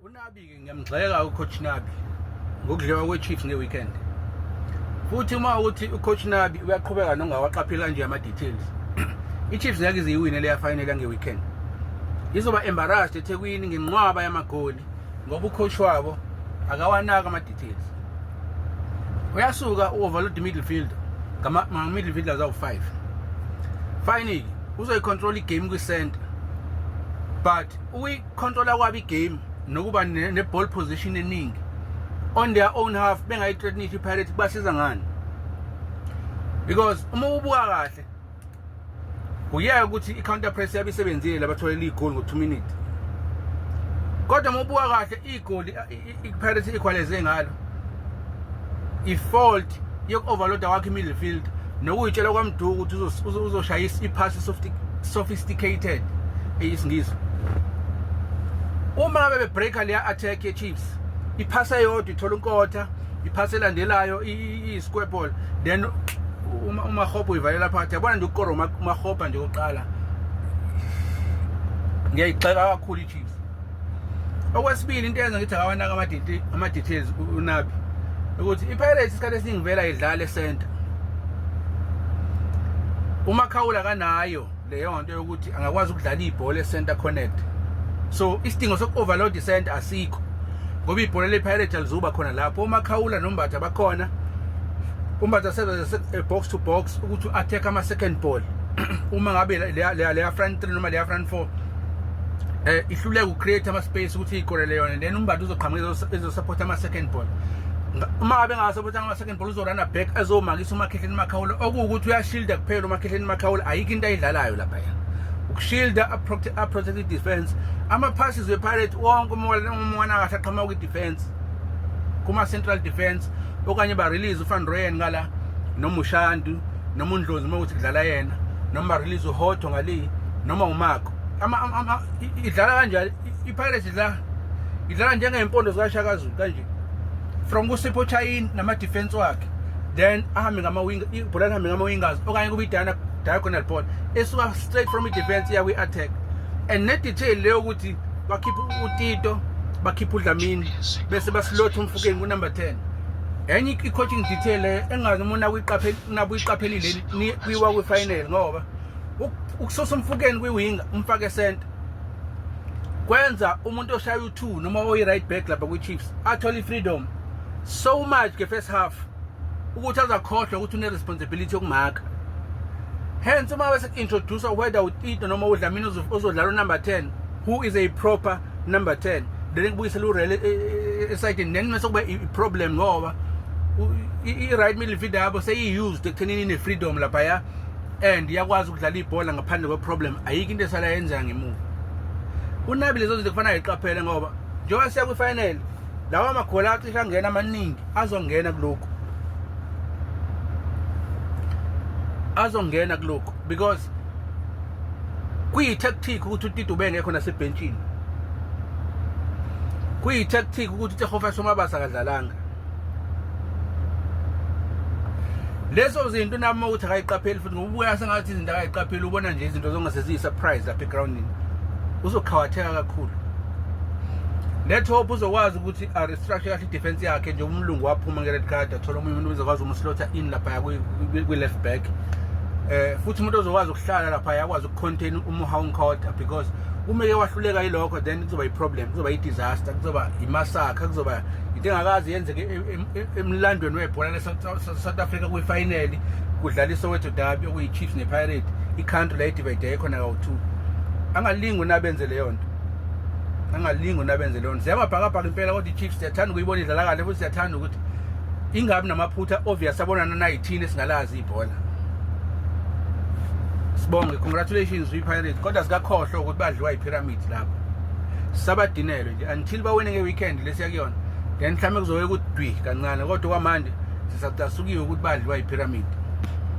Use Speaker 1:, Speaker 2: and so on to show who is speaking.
Speaker 1: unabi-ke ngiyamgxeka ucoach nabi ngokudliwa kwe-chiefs nge-weekend futhi uma ukuthi ucoach nabi uyaqhubeka nongawaqapheli kanje ama-details i-chiefs ngeke iziyiwine leya final yange-weekend izoba embarrassed ethekwini ngenqwaba yamagoli ngoba ucoach wabo akawanaki ama-details uyasuka u-overload i-middlefield ngama-middlefield azawu-five finally uzoyicontrol igame kwi-center but Controller kwabo igame nokuba ne-ball position eningi on their own half bengayithreatnisha iPirates kubasiza ngani because uma ubuka kahle uyeke ukuthi i-counter press yabe isebenzile labatholela igoli ngo-2 minute kodwa uma ubuka kahle igoli ipirates equalize ngalo ifault yoku-overloada kwakho i-midfield nokuyitshela kwamduku ukuthi uzoshayisa iphasi sophisticated eyisingisi uma ngabe bebreaker leya attack ye-chiefs iphasi eyodwa ithola unkotha iphasi elandelayo i-square ball then umahobha uyivalela phakathi yabona nje ukukora umahobha nje oqala ngiyayigxeka kakhulu i-chiefs okwesibili into eyenza ngithi akawanaka amaditi ama-details unabi ukuthi ipirates isikhathi esiningi vela idlale center umakhawula kanayo leyo nto yokuthi angakwazi ukudlala ibhola e-center connect so isidingo soku-overload i-center asikho ngoba ibhola le-pirate alizuba khona lapho umakhawula nombatha bakhona umbatha sebenze eh, box to box ukuthi u-attack ama-second ball uma ngabe leya front three noma leya front four eh ihluleka ucreate ama space ukuthi iyikolele yona then umbadi uzoqhamuka ezosupport ama second ball uma ngabe ngasupport ama second ball uzorana back azomakisa umakhehleni makhawula okuwukuthi uyashielda kuphela umakhehleni makhawula ayikho into ayidlalayo lapha yena ukushielda a protected defense ama passes we pirate wonke umona umona kahle aqhamuka kwi defense kuma central defense okanye ba release uFan Royen ngala noMushandu noma undlozi uma ukuthi kudlala yena noma release uhotho ngaliyi noma umako idlala kanjani ipirates idlala idlala njengeyimpondo zikashakazulu kanje from kusipho chayini namadefense wakhe then ahambe ngamawing ibhola lihambe ngamawingers okanye kube idana diagonal ball esuka straight from i-defense iya kwi-attack and ne-detail leyo ukuthi bakhiphe utito bakhiphe udlamini bese basilotha umfukeni kunumber 10 enye i-coaching detail eh, engazi uma nakuyiqaphelile kwiwa kwi-final ngoba ukusosa umfukeni kwi-winger umfake esenta kwenza umuntu oshaya u-two noma oyi-right back lapha kwi-chiefs athole i-freedom so much nge-first half ukuthi azakhohlwa ukuthi une-responsibility yokumaka hence uma bese-introducer whether utito noma udlamini ozodlala unumber 10 who is a proper number 10 then ngibuyisela urele esayidini e, e, e, then mase kuba i-problem ngoba i-right midfield yabo seyi-used ekuthenini ine-freedom laphaya and iyakwazi ukudlala ibhola ngaphandle kwe-problem ayikho into esala yenza ngemuva unabi lezo zinto kufanele ayiqaphele ngoba njengoba siya kwifinal lawa maghola acishe angena amaningi azongena kulokhu azongena kulokhu because Kuyi-tactic ukuthi uTito ubengekho nasebhentshini. Kuyi-tactic ukuthi uTehofa Somabasa akadlalanga. Leso zinto nami ukuthi akayiqapheli futhi ngoba ubuya sengathi izinto akayiqapheli ubona nje izinto zongase ziyi-surprise lapha egroundini. Uzoqhawatheka kakhulu. Let hope uzokwazi ukuthi a restructure kahle i-defense yakhe nje umlungu waphuma nge-red card athola omunye umuntu uzokwazi umslotha in lapha kwi-left back. Eh futhi umuntu ozokwazi hlala lapha yakwazi ukucontain umuhawu nkoda because uma ke wahluleka yilokho then kuzoba yiproblem kuzoba yidisaster kuzoba yimasakha kuzoba into engakazi yenzeke e, e, e, emlandweni webhola lesouth africa kwifinali kudlala isowetho dabi okuyi-chiefs nepirate icountry layidivide ekhona kawu-two angalingi unabenze leyo nto angalingi unabenze leyo nto ziyamabhakabhaka impela kodwa i-chiefs siyathanda ukuyibona idlala kahle futhi siyathanda ukuthi ingabi namaphutha obvious abonana nayithini esingalazi ibhola sibonge congratulations kwi-pirate kodwa sikakhohlwa ukuthi badliwa yi-pyramid lapho sabadinelwe nje until bawine nge-weekend lesiya kuyona then mhlawumbe kuzoke kudwi kancane kodwa kwamanje sisacasukiwe ukuthi badliwa yi-pyramid